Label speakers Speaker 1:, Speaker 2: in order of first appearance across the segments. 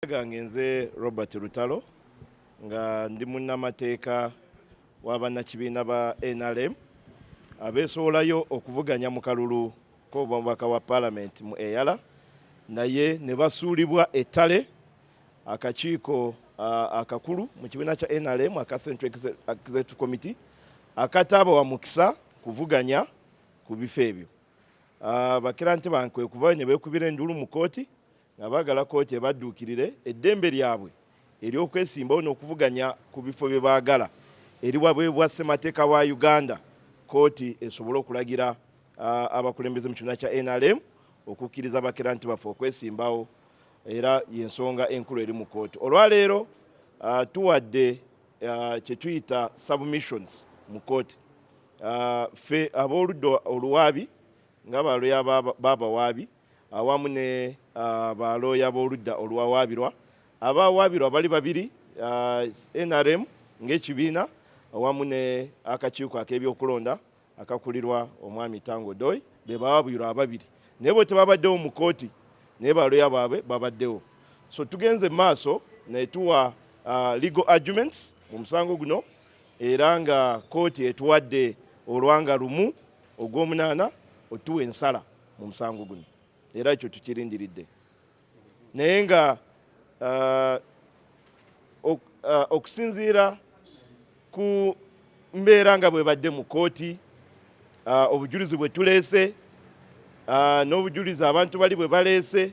Speaker 1: gange nze Robert Lutalo nga ndi munnamateeka w'abannakibiina ba NRM abeesowolayo okuvuganya mu kalulu k'obubaka wa palamenti mu eyala naye ne basuulibwa ettale akakiiko akakulu mu kibiina kya NRM aka Central Executive Committee akataabawa mukisa kuvuganya ku bifo ebyo bakira nti bankwe kuba ne beekubira endulu mu kkooti nga baagala kkooti ebadduukirire eddembe lyabwe ery'okwesimbawo n'okuvuganya ku bifo bye baagala eriwabwebwa ssemateeka wa uganda kkooti esobole okulagira abakulembeze mu kibiina kya nrm okukkiriza bakeranti baffe okwesimbawo era yensonga enkulu eri mu kkooti olwaleero tuwadde kyetuyita submissions mu kkooti ffe ab'oludda oluwaabi nga balya baabawaabi awamu ne uh, balooya b'oludda oluwawaabirwa abawaabirwa bali babiri uh, nrm ng'ekibiina awamu ne akakiiko ak'ebyokulonda akakulirwa omwami tango doy be bawaabirwa ababiri naye bwe tebabaddewo mu kooti naye balooya baabwe babaddewo so tugenze mu maaso naye tuwa uh, legal arguments mu musango guno era nga kooti etuwadde olwanga lumu ogw'omunaana otuwa ensala mu musango guno era ekyo tukirindiridde naye nga uh, uh, okusinziira ku mbeera nga bwebadde mu kooti uh, obujulizi bwe tuleese n'obujulizi abantu bali bwe baleese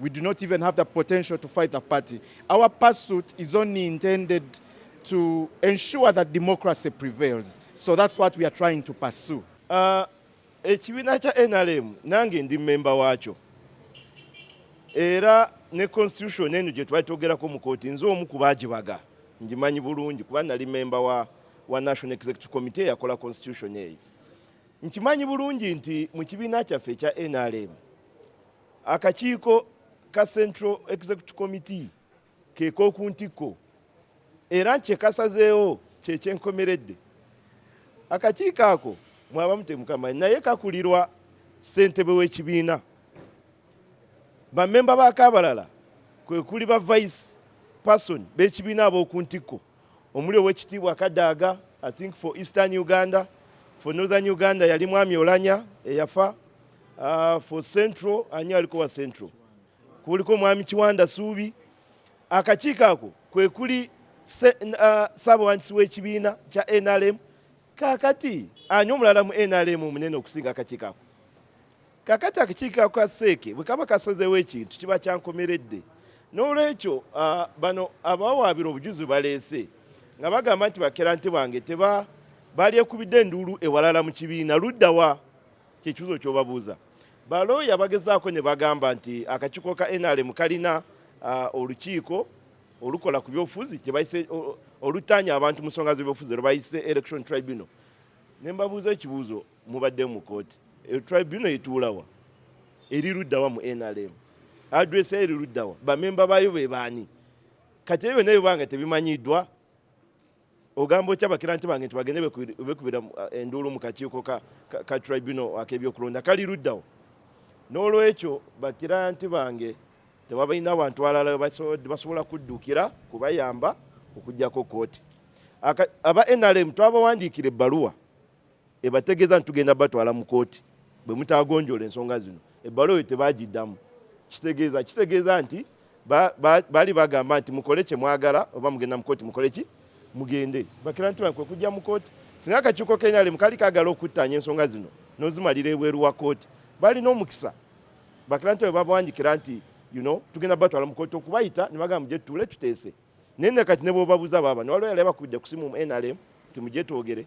Speaker 2: We do not even have the potential to fight the party. Our pursuit is only intended to ensure that democracy prevails. So that's what we are trying to pursue. Uh,
Speaker 1: ekibiina kya NRM nange ndi memba waakyo era ne constitution eno gye twali twogerako mu kooti nze omu ku baagibaga ngimanyi bulungi kuba nali memba wa, wa national executive committee eyakola constitution eyo nkimanyi bulungi nti mu kibiina kyaffe ekya NRM Akakiiko ka Central Executive Committee ke k'oku ntikko era kye kasazeewo kye kyenkomeredde. Akakiiko ako mwabamu temukamanyi naye kakulirwa ssentebe w'ekibiina. Bammemba baako abalala kwe kuli ba vice person b'ekibiina ab'oku ntikko. omuli owekitiibwa kadaaga i think for eastern uganda for northern uganda yali mwami olanya eyafa uh, for central ani aliko wa central kuliko mwami kiwanda suubi akakiiko ako kwekuli uh, saabawandiisi w'ekibiina kya nrm kakati ani omulala mu nrm omunene okusinga akakiiko ako kakati akakiiko ka seeke bwe kaba kasazewo ekintu kiba kyankomeredde n'olwekyo bano abawaabira obujuzi baleese nga bagamba nti bakerante bange teba balyekubidde enduulu ewalala mu kibiina luddawa kyekibuzo kyobabuuza balooya bagezaako ne bagamba nti akakiiko ka nrm kalina olukiiko olukola ku byobufuzi kyebayise olutanya abantu mu nsonga z'ebyobufuzi lwebayise election tribunal ne mbabuuza ekibuuzo mubadde mu kooti e, tribunal etuulawa eri luddawa mu nrm adress eri luddawa bamemba baayo be baani kati ebyo naye banga tebimanyiddwa ogamba otya bakiranti bange nti bagende bekubira eh, enduulu mu kakiiko ka tribunal ak'ebyokulonda kali luddawo n'olwekyo bakiranti bange tewabalina abantu alala basobola kuddukira kubayamba okujjako kooti aba nrm twabawandiikira ebbaluwa ebategeeza nti tugenda batwala mu kooti bwe mutagonjoola ensonga zino ebbaluwa eyo tebagiddamu kitegeeza kitegeeza nti baali bagamba nti mukole kye mwagala oba mugenda mu kooti mukole ki mugende bakira nti kwe kujja mu kooti singa akakiiko kenalemu kali kagala okuttaanya ensonga zino n'ozimalira ebweru wa kooti balina omukisa bakira nti webabawanjikira nti you know tugenda batwala mu kooti okubayita ne bagamba mugye tutuule tuteese naye nakati ne bwobabuza baba newaliwo yali abakubidde kusimu mu nrm nti mugye twogere